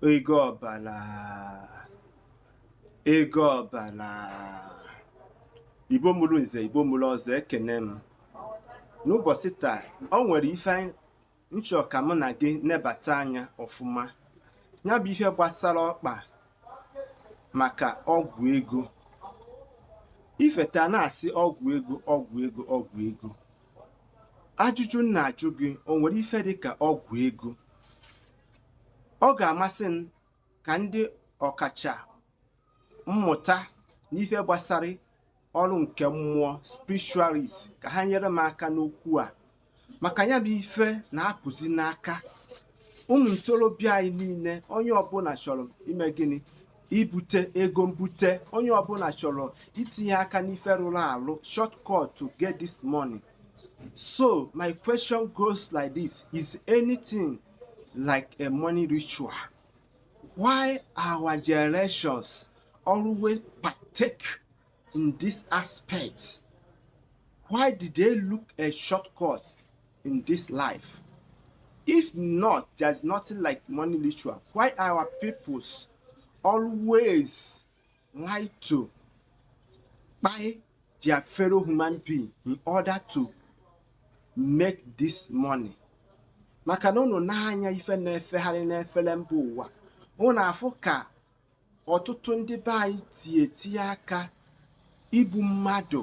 ego ọbala ego ọbala igbo mụrụ nze igbo mụrụ ọzọ ekene m n'ụbọchị taa o nwere ife m chọọ ka mụ na gị nebata anya ọfụma ya bụ ihe gbasara ọkpa maka ọgwụ ego ifeta na-asị ọgwụ ego ọgwụ ego ọgwụ ego ajụjụ m na-ajụ gị o nwere ife dị ka ọgwụ ego ọ ga-amasị m ka ndị ọkacha mmụta n'ife gbasara ọrụ nke mmụọ spiritualist ka ha nyere m aka n'okwu a maka ya bụ ife na-apụzi n'aka ụmụ ntorobịa anyị niile onye ọbụla chọrọ ime gịnị ibute ego mbute onye ọbụla chọrọ itinye aka n'ife rụrụ arụ shortcut to get this money so my question goes like this is anything like a money ritual why our generations always partake in this aspect? Why did they look a shortcut in this life? If not, there's nothing like money ritual. Why our peoples always like to buy their fellow human being in order to make this money? maka na unu na-anya ife na-efegharị n'efere mba ụwa unu afụ ka ọtụtụ ndị be anyị ti etinye aka igbu mmadụ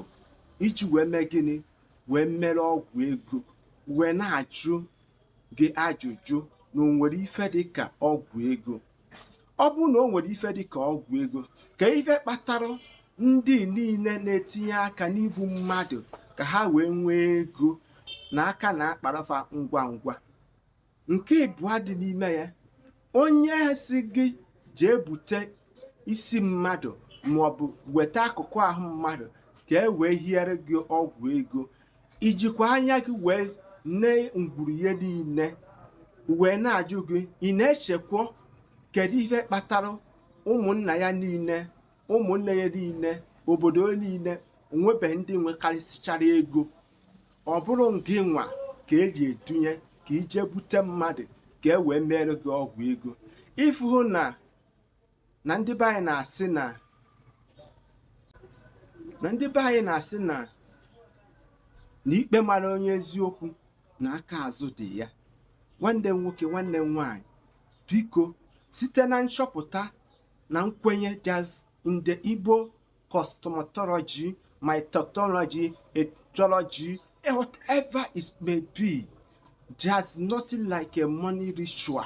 iji wee mee gịnị wee mere ọgwụ ego wee na-ajụ gị ajụjụ na o nwere ife dịka ọgwụ ego ọ bụrụ na o nwere ife dịka ọgwụ ego kee ife kpatara ndị niile na-etinye aka n'igbu mmadụ ka ha wee nwee ego na aka na-akpara fa ngwa ngwa Nke ịbụa dị n'ime ya, onye si gị jee bute isi mmadụ maọbụ weta akụkụ ahụ mmadụ ka e wee hiere gị ọgwụ ego, i jikwa anya gị wee nee ngwuru ya niile wee na-ajụ gị ị na-echekwa kedu ihe kpatara ụmụnna ya niile ụmụnne ya niile obodo ya niile o nwebeghị ndị nwekarịsịchara ego Ọ bụrụ gị nwa ka e ji edunye ka i jee bute mmadụ ka e wee meere gị ọgwụ ego ị fụ na na ndị be anyị na-asị na na ikpe mara onye eziokwu na aka azụ dị ya nwanne m nwoke nwanne m nwaanyị biko site na nchọpụta na nkwenye that in the Igbo cosmetology, my technology, ethology, eh, whatever it may be, there's nothing like a money ritual.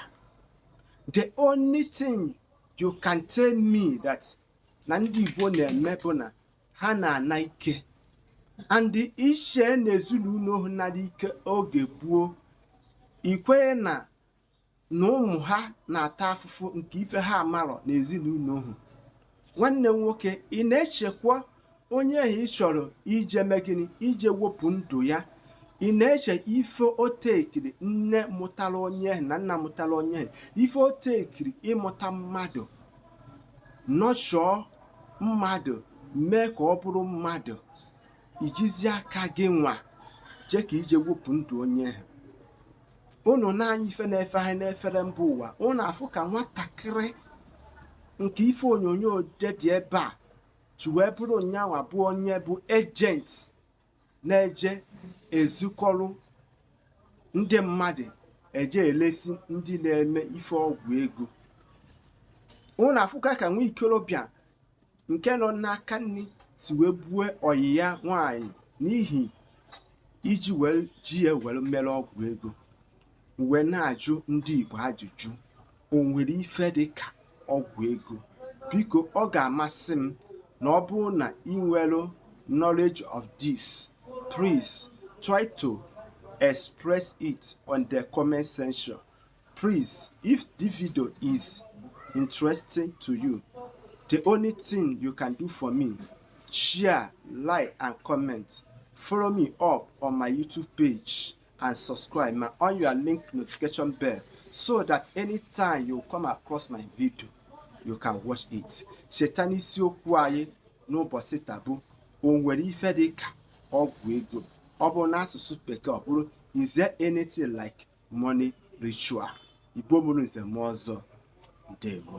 The only thing you can tell me that na ndị Igbo na-eme bụ na ha na-ana ike and i chee na ezinụlọ ha nara ike oge gboo i kwere na na ụmụ ha na-ata afụfụ nke ife ha amarọ n'ezinụlọ ahụ. Nwanne m nwoke, ị na-echekwa onye ahụ ị chọrọ ije megide, ije wepụ ndụ ya. Ị na-eche ife o tekiri nne mụtara onye ahụ na nna mụtara onye ahụ, ife o tekiri ịmụta mmadụ, nurture mmadụ, mee ka ọ bụrụ mmadụ, i jizi aka gị nwa jee ka i je wepụ ndụ onye ahụ. ụnụ nee anya ife na-efegharị n'efere mba ụwa ụnụ afụ ka nwatakịrị nke ife onyonyo dị dị ebe a si wee bụrụ na yanwa bụ onye bụ agent na-eje ezukọrọ ndị mmadụ eje elesi ndị na-eme ife ọgwụ ego ụnụ afụkwa ka nwa ikorobịa nke nọ n'aka nri si wee bue ọyị ya nwaanyị n'ihi iji were ji ya were mere ọgwụ ego m wee na-ajụ ndị Igbo ajụjụ o nwere ife dị ka ọgwụ ego biko ọ ga-amasị m na ọ bụrụ na ị nwere knowledge of this please try to express it on the comment section Please, if the video is interesting to you, the only thing you can do for me, share, like, and comment. Follow me up on my YouTube page and subscribe ma on your link notification bell so that anytime you come across my video, you can watch it. Cheta na isiokwu anyị n'ụbọchị taa bụ o nwere ife dị ka ọgwụ ego ọ bụrụ n'asụsụ bekee ọ bụrụ is there anything like money ritual igbo mụrụ nze mụọ ọzọ ndewo